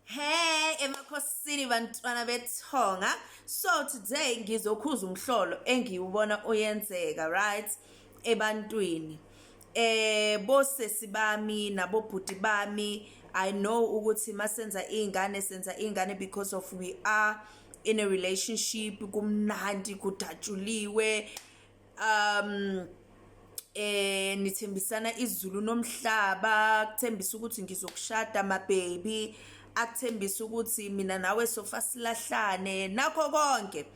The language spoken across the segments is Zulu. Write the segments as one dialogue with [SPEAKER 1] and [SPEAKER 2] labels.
[SPEAKER 1] Hey emakhosini bantwana bethonga so today ngizokhuza umhlolo engiwubona oyenzeka right ebantwini eh bosesi bami nabobhuti bami i know ukuthi masenza izingane senza izingane because of we are in a relationship kumnandi kudatshuliwe um eh nithembisana izulu nomhlaba kuthembisa ukuthi ngizokushada ma baby akuthembisa ukuthi mina nawe sofa silahlane nakho konke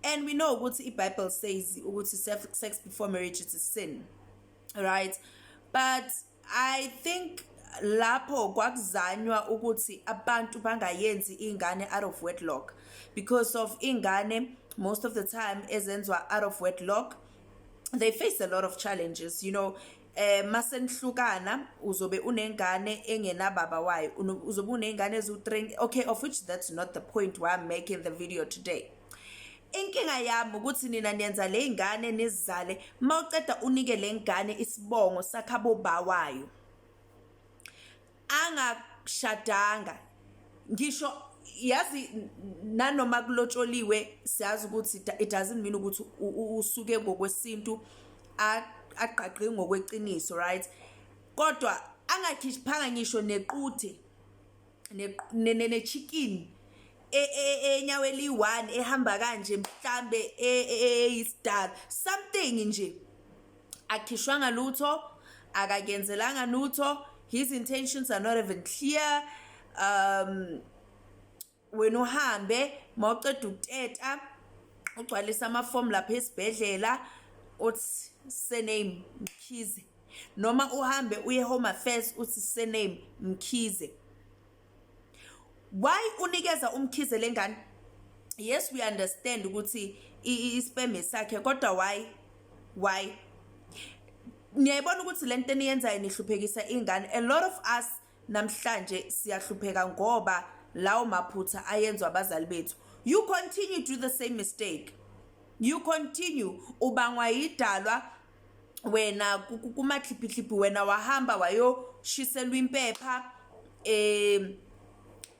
[SPEAKER 1] and we know ukuthi iBible says ukuthi sex before marriage is sin right but I think lapho kwakuzanywa ukuthi abantu bangayenzi ingane out of wedlock because of ingane most of the time ezenzwa out of wedlock they face a lot of challenges you know eh masenihlukana uzobe unengane engenababa wayo uzobe unengane ezu-3 okay of which that's not the point why I'm making the video today inkinga yami ukuthi nina niyenza le ngane nizizale uma uceda unike le ngane isibongo sakhabo bawayo angashadanga ngisho yazi nanoma kulotsholiwe siyazi ukuthi it doesn't mean ukuthi usuke ngokwesintu agqagqe ngokweqiniso right kodwa angakhiphanga ngisho nequthe ne-chicken e, e, enyawo eliyi-one ehamba kanje mhlambe e, eyisidala something nje akhishwanga lutho akakenzelanga lutho his intentions are not even clear um wena uhambe mawuceda ukuteta ugcwalisa amafomu lapha esibhedlela uthi surname mkhize noma uhambe uye home affairs uthi surname mkhize why unikeza umkhize lengane yes we understand ukuthi isperm sakhe kodwa why why niyayibona ukuthi lento eniyenzayo nihluphekisa ingane a lot of us namhlanje siyahlupheka ngoba lawo maphutha ayenzwa abazali bethu you continue to do the same mistake you continue ubangwa yidalwa wena kumakhiphikhiphi wena wahamba wayoshiselwa impepha eh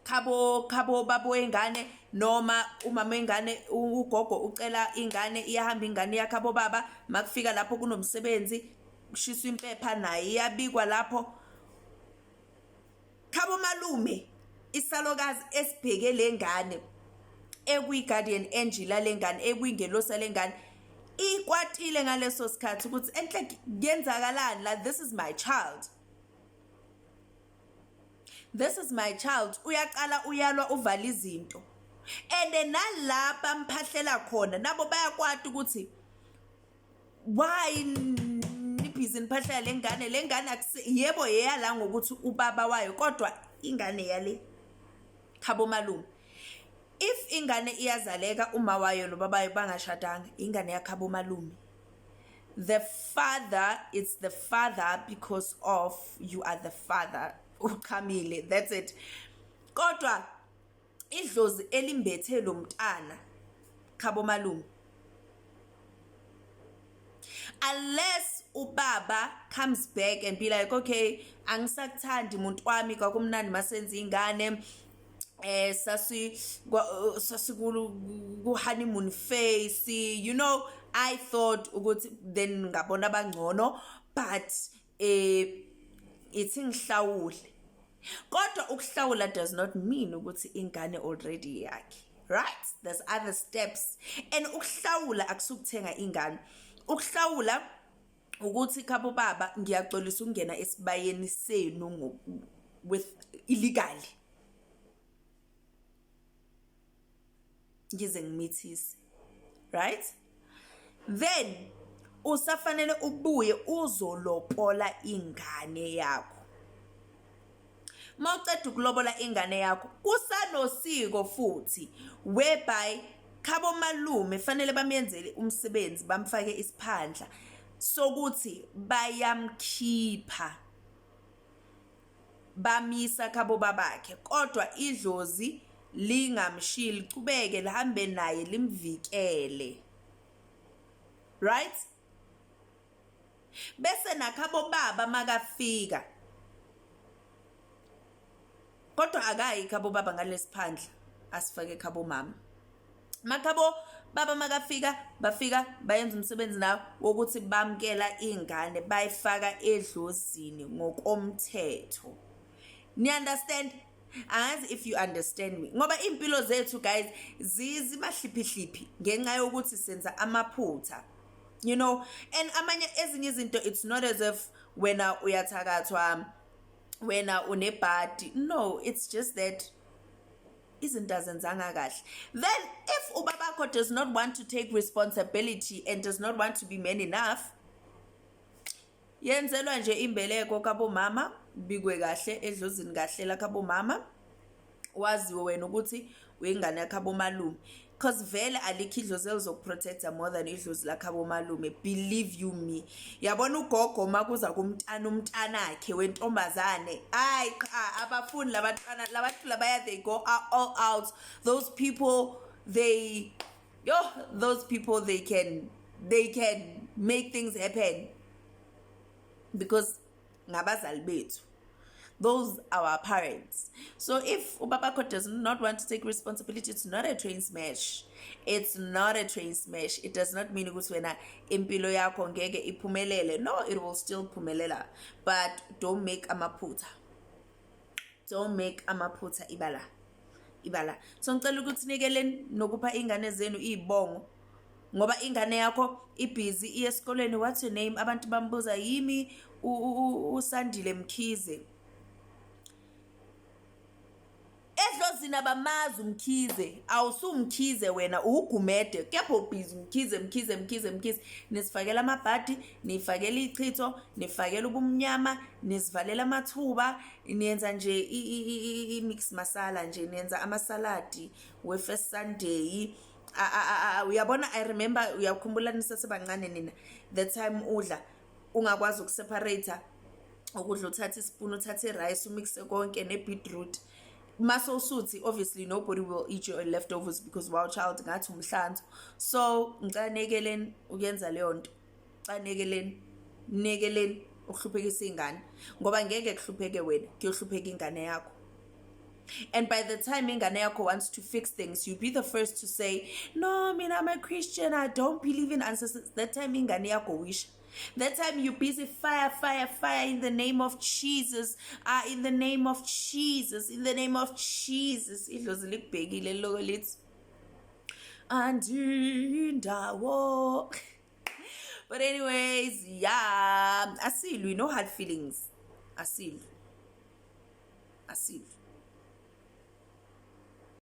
[SPEAKER 1] khabo khabo babo engane noma umama engane ugogo ucela ingane iyahamba ingane yakhe abobaba makufika lapho kunomsebenzi kushiswa impepha naye iyabikwa lapho khabo malume isalokazi esibheke lengane ekuyi-guardian angel lengane ekuyingelosa lengane ikwatile ngaleso sikhathi ukuthi enhle kuyenzakalani la this is my child this is my child uyaqala uyalwa uvala izinto and nalapha mphahlela khona nabo bayakwati ukuthi why nibhizi niphahlaya le ngane le ngane yebo yeyala ngokuthi ubaba wayo kodwa ingane yale khabo malume if ingane iyazaleka uma wayo nobabayo bangashadanga ingane yakhabo malume the father it's the father because of you are the father uchamile that's it kodwa idlozi elimbethe lo mntana khabo malume unless ubaba comes back and be like okay angisakuthandi muntu wami kwakumnandi masenza ingane eh sasi sasikulu ku honeymoon face you know i thought ukuthi then ngabona abangcono but eh ithi ngihlawule kodwa ukuhlawula does not mean ukuthi ingane already yakhe right there's other steps and ukuhlawula akusukuthenga ingane ukuhlawula ukuthi khabo baba ngiyaxolisa ukungena esibayeni senu with illegally ngize ngimithise right then usafanele ubuye uzolopola ingane yakho mawuceda ukulobola ingane yakho kusanosiko futhi whereby khabo malume fanele bamyenzele umsebenzi bamfake isiphandla sokuthi bayamkhipha bamyisa khabo babakhe kodwa idlozi lingamshiyi lichubeke lihambe naye limvikele right bese nakhabo baba makafika kodwa akayi khabo baba ngalesiphandla asifake khabo mama makhabo baba makafika bafika bayenza umsebenzi nawo wokuthi bamkela ingane bayifaka edlozini ngokomthetho ni understand angazi if you understand me ngoba impilo zethu guys zizimahlipihliphi ngenxa yokuthi senza amaphutha you know and amanye ezinye izinto it's not as if wena uyathakathwa wena unebhadi no it's just that izinto azenzanga kahle then if ubabakho does not want to take responsibility and does not want to be man enough yenzelwa nje imbeleko kabomama bikwe kahle edlozini kahle lakhabomama waziwe wena ukuthi uyingane yakhabomalume cause vele alikho idlozi elizokuprotecta more than idlozi lakhabo malume believe you me yabona ugogo uma kuza kumntana umntanakhe wentombazane ayi qha abafuni labantwana labathula baya they go all out those people they yo those people they can they can make things happen because ngabazali bethu those are our parents so if ubabakho does not want to take responsibility it's not a train smash it's not a train smash it does not mean ukuthi wena impilo yakho ngeke iphumelele no it will still phumelela but don't make amaphutha don't make amaphutha ibala ibala so ngicela ukuthi nikeleni nokupha ingane zenu izibongo ngoba ingane yakho ibhizi iye esikoleni what's your name abantu bambuza yimi usandile mkhize edlozini abamazi umkhize awusumkhize wena uwugumede kepha ubhizi mkhize mkhize mkhize mkhize nisifakela amabhadi nifakela ichitho nifakela ubumnyama nizivalela amathuba niyenza nje i-mix masala nje niyenza amasaladi we-first sunday uyabona i remember uyakhumbula nisesebancane nina the time udla ungakwazi ukuseparator ukudla uthathe isipuni uthathe irice umixe konke ne-beetroot mase usuthi obviously nobody will eat your leftovers because wow child ngathi umhlanzo so ngicela nekeleni ukuyenza leyo nto cha nekeleni nekeleni ukuhluphekisa ingane ngoba ngeke kuhlupheke wena kuyohlupheka ingane yakho and by the time ingane yakho wants to fix things you be the first to say no mina i'm a christian i don't believe in ancestors that time ingane yakho wisha that time you busy fire fire fire in the name of jesus ah in the name of jesus in the name of jesus idlozi likubhekile loko lithi andindawo but anyways yeah asilwi no hard feelings asilwi asilwi